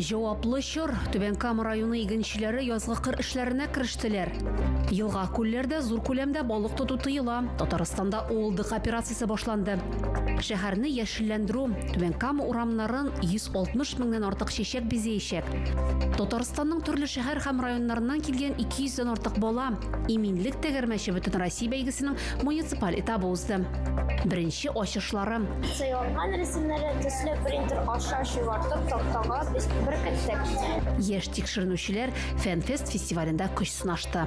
Җаваплы чор. Түбән Кама районы игенчеләре язгы кыр эшләренә керештеләр. Елга, күлләрдә зур күләмдә балык тоту тыела. Татарстанда уылдык операциясе башланды. Шәһәрне яшелләндерү. Түбән Кама урамнарын 160 меңнән артык чәчәк бизәячәк. Татарстанның төрле шәһәр һәм районнарыннан килгән 200 дән артык бала Иминлек тәгәрмәче бөтенроссия бәйгесенең Муниципаль этап узды. Беренче ачышлары. Сайланган рәсемнәре төсле принтер аша чуартып тактага без беркеттек. Яшь тикшеренүчеләр Фәнфест фестивалендә көч сынашты.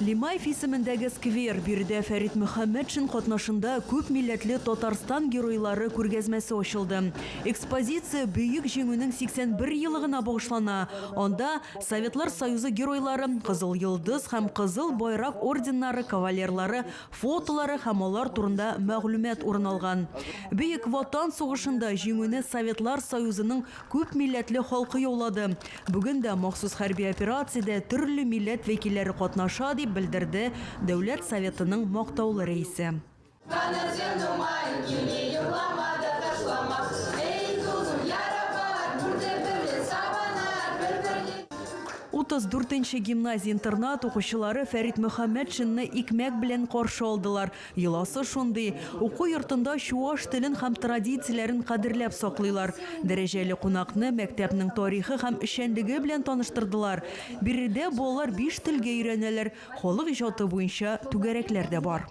Лимаев исемендәге сквер, биредә Фәрит Мөхәммәтшин катнашында күп милләтле Татарстан геройлары күргәзмәсе ачылды. Экспозиция Бөек Җиңүнең 81 елыгына багышлана, анда Советлар Союзы Геройлары, Кызыл Йолдыз һәм Кызыл Байрак орденнары кавалерлары фотолары һәм алар турында мәгълүмат урын алган. Бөек Ватан сугышында Җиңүне Советлар Союзының күп милләтле халкы яулады. Бүген дә махсус хәрби операциядә төрле милләт вәкилләре катнаша, дип белдерде Дәүләт Советының мактаулы рәисе. Каныр җирнең маен кими, Йоклама да ташлама. Эй, зур-зур ярабар, Бүртеп берле сабанар, Бер-берне. 34 нче гимназия-интернат укучылары Фәрит Мөхәммәтшинны икмәк белән каршы алдылар. Йоласы шундый, уку йортында чуаш телен һәм традицияләрен кадерләп саклыйлар. Дәрәҗәле кунакны мәктәпнең тарихы һәм эшчәнлеге белән таныштырдылар. Биредә балалар биш телгә өйрәнәләр, халык иҗаты буенча түгәрәкләр дә бар.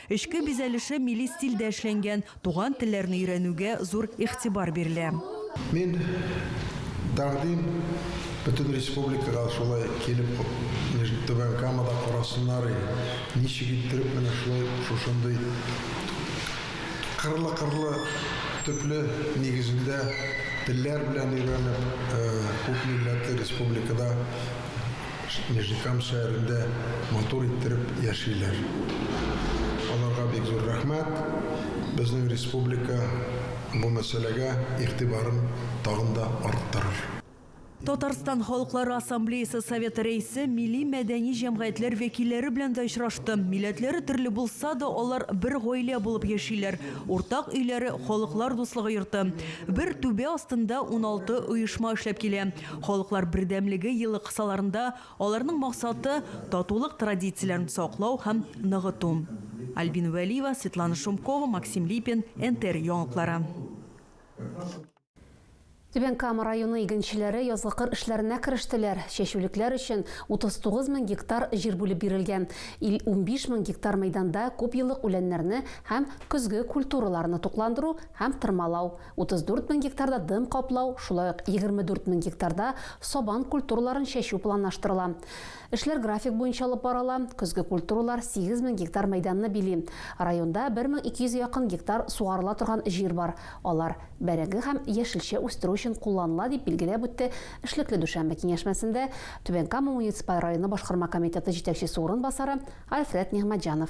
Эчке бизәлеше милли стильдә эшләнгән, туган телләрне өйрәнүгә зур игътибар бирелә. Мин тәкъдим бөтен республикага шулай килеп Нижний Түбән Камада карасыннар иде, ничек иттереп менә шулай шушындый кырлы-кырлы төпле нигезендә телләр белән өйрәнеп күп милләтле республикада Нижнекам шәһәрен дә матур иттереп яшиләр. Аларга бик зур рәхмәт. Безнең республика бу мәсьәләгә игътибарын тагын да арттырыр. Татарстан Халыклары Ассамблеясы Советы Рәисе милли-мәдәни җәмгыятьләр вәкилләре белән дә очрашты. Милләтләре төрле булса да, алар бер гаилә булып яшиләр. Уртак өйләре, Халыклар дуслыгы йорты. Бер түбә астында уналты оешма эшләп килә. Халыклар бердәмлеге елы кысаларында аларның максаты, татулык традицияләрен саклау һәм ныгыту. Альбина Вәлиева, Светлана Шумкова, Максим Липин, НТР яңалыклары. Түбән Кама районы игенчеләре язгы кыр эшләренә керештеләр. Чәчүлекләр өчен 39 мең гектар җир бүлеп бирелгән. Ил 15 мең гектар мәйданда күпьеллык үләннәрне һәм көзге культураларны тукландыру һәм тырмалау 34 мең гектарда дым каплау, шулай ук 24 мең гектарда сабан культураларын чәчү планлаштырыла. Эшләр график буенча алып барыла, көзге культуралар 8 мең гектар мәйданны били. Районда 1200 га якын гектар сугарыла торган җир бар, алар бәрәңге һәм яшелчә үстерү өчен кулланыла, дип билгеләп үтте эшлекле дүшәмбе киңәшмәсендә Түбән Кама муниципаль районы башкарма комитеты җитәкчесе урынбасары Альфред Нигъмәтҗанов.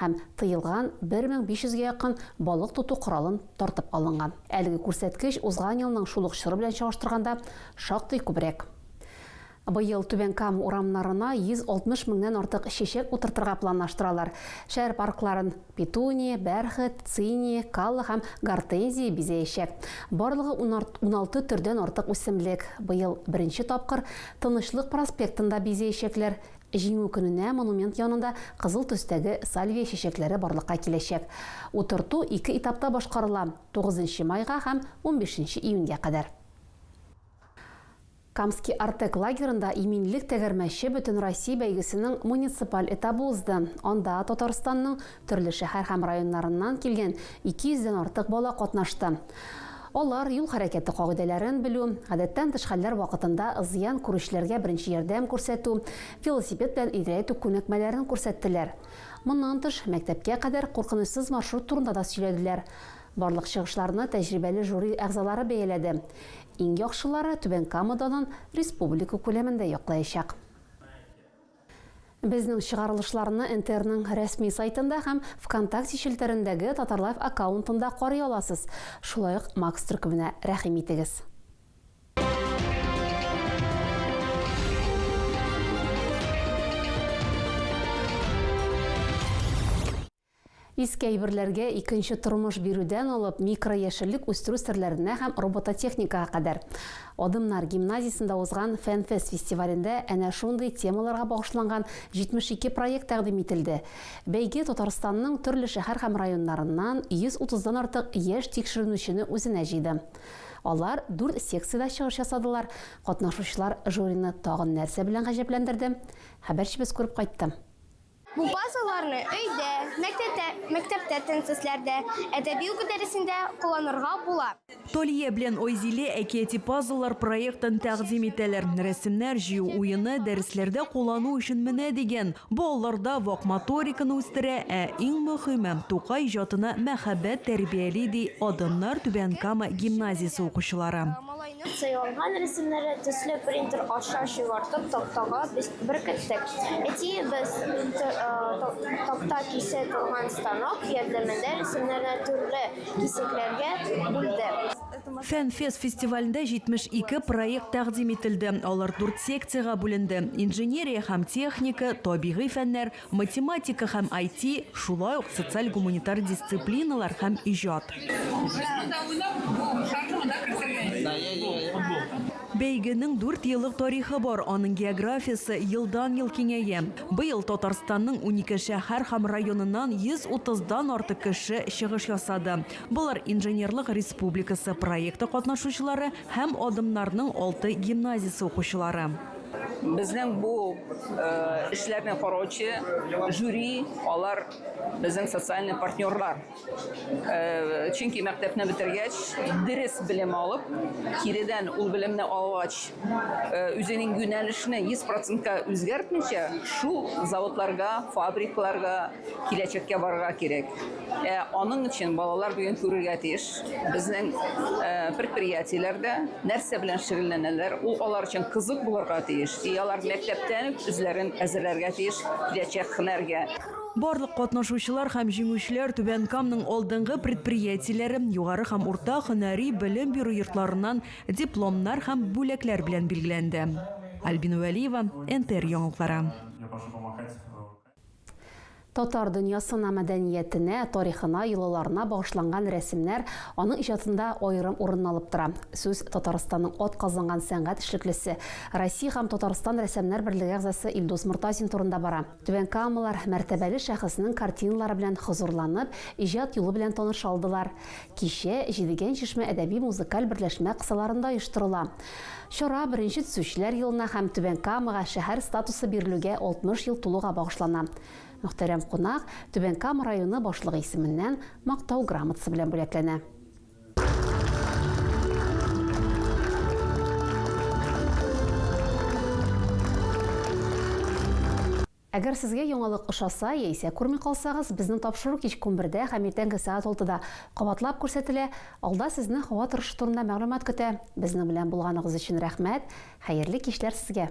һәм тыелган 1500 гә якын балык тоту коралын тартып алынган. Әлеге күрсәткеч узган елның шул ук чоры белән чагыштырганда шактый күбрәк. Быел Түбән Кама урамнарына 160 меңнән артык чәчәк утыртырга планлаштыралар. Шәһәр паркларын петуния, бәрхет, циния, калла һәм гортензия бизәячәк. Барлыгы уналты төрдән артык үсемлек быел беренче тапкыр Тынычлык проспектын да бизәячәкләр. Җиңү көненә монумент янында кызыл төстәге сальвия чәчәкләре барлыкка киләчәк. Утырту ике этапта башкарыла, тугызынчы майга һәм унбишенче июньгә кадәр. Камский Артек лагерында Иминлек тәгәрмәче бөтенроссия бәйгесенең муниципаль этабы узды. Анда Татарстанның Төрле шәһәр һәм районнарыннан килгән 200 дән артык бала катнашты. Алар юл хәрәкәте кагыйдәләрен белү, гадәттән тыш хәлләр вакытында зыян күрүчеләргә беренче ярдәм күрсәтү, велосипед белән йөрәтү күнекмәләрен күрсәттеләр. Моннан тыш, мәктәпкә кадәр куркынычсыз маршрут турында да сөйләделәр. Барлык чыгышларны тәҗрибәле жюри әгъзалары бәяләде. Иң яхшылары Түбән Кама данын республика күләмендә яклаячак. Безнең чыгарылышларны НТРның рәсми сайтында һәм Вконтакте челтәрендәге Татарлайф аккаунтында карый аласыз. Шулай ук Макс төркеменә рәхим итегез. Иске әйберләргә икенче тормыш бирүдән алып микрояшеллек үстерү серләренә һәм робототехникага кадәр. Адымнар гимназиясендә узган Фәнфест фестивалендә әнә шундый темаларга багышланган 72 проект тәкъдим ителде. Бәйге Татарстанның төрле шәһәр һәм районнарыннан 130 дан артык яшь тикшеренүчене үзенә җыйды. Алар дүрт секциядә чыгыш ясадылар. Катнашучылар жюрины тагын нәрсә белән гаҗәпләндерде? Хәбәрчебез күреп кайтты. Бу базаларны өйдә, мәктәптә, мәктәптә тенцесләрдә, әдәби уку дәресендә кулланырга була. Талия белән Айзилә әкияти пазллар проектын тәкъдим итәләр. Рәсемнәр җыю уены, дәресләрдә куллану өчен менә дигән. Бу алларда вак моториканы үстерә, ә иң мөхиме, Тукай иҗатына мәхәббәт тәрбияли, ди Адымнар Түбән Кама гимназиясе укучылары. Сайланган рәсемнәрне төсле принтер аша чыгартып тактага беркеттек. Әтиебез такта кисә торган станок ярдәмендә рәсемнәрне төрле кисәкләргә бүлде. Фәнфест фестивалендә 72 проект тәкъдим ителде. Алар дүрт секциягә бүленде, инженерия һәм техника, табигый фәннәр, Математика һәм IT, шулай ук социаль-гуманитар дисциплиналар һәм иҗат. Бәйгенең дүрт еллык тарихы бар, аның географиясе елдан-ел киңәя. Быел Татарстанның унике шәһәр һәм районыннан 130 дан артык кеше чыгыш ясады. Болар Инженерлык республикасы проекты катнашучылары һәм Адымнарның алты гимназиясе укучылары. Безнең бу эшләрне караучы жюри, алар безнең социальный партнерлар. Чөнки мәктәпне бетергәч, дөрес белем алып, киредән ул белемне алгач, үзенең юнәлешне 100%-ка үзгәртмичә, шул заводларга, фабрикларга, Киләчәккә барырга кирәк. Ә аның өчен балалар бүген күрергә тиеш. Безнең э, предприятиеләр дә нәрсә белән шөгыльләнәләр, ул алар өчен кызык булырга тиеш. И алар мәктәптән үк үзләрен әзерләргә тиеш киләчәк һөнәргә. Барлык катнашучылар һәм җиңүчеләр Түбән Камның алдынгы предприятиеләре, югары һәм урта һөнәри белем бирү йортларыннан дипломнар һәм бүләкләр белән билгеләнде. Альбина Вәлиева, НТР яңалыклары. Я пошел помахать. Татар дөньясына, мәдәниятенә, тарихына, йолаларына багышланган рәсемнәр аның иҗатында аерым урын алып тора. Сүз Татарстанның атказанган сәнгать эшлеклесе, Россия һәм Татарстан рәссамнар берлеге әгъзасы Илдус Мортазин турында бара. Түбәнкамалылар мәртәбәле шәхеснең картиналары белән хозурланып, иҗат юлы белән таныша алдылар. Кичә Җидегән чишмә әдәби-музыкаль берләшмә кысаларында оештырыла. Чара Беренче төзүчеләр елына һәм Түбән Камага шәһәр статусы бирелүгә 60 ел тулуга багышлана. Мөхтәрәм кунак Түбән Кама районы башлыгы исеменнән Мактау грамотасы белән бүләкләнә. Әгәр сезгә яңалык ошаса яисә күрми калсагыз, безнең тапшыру кичке унбердә һәм иртәнге сәгать алтыда кабатлап күрсәтелә. Алда сезне һава торышы турында мәгълүмат көтә. Безнең белән булганыгыз өчен рәхмәт! Хәерле кичләр сезгә!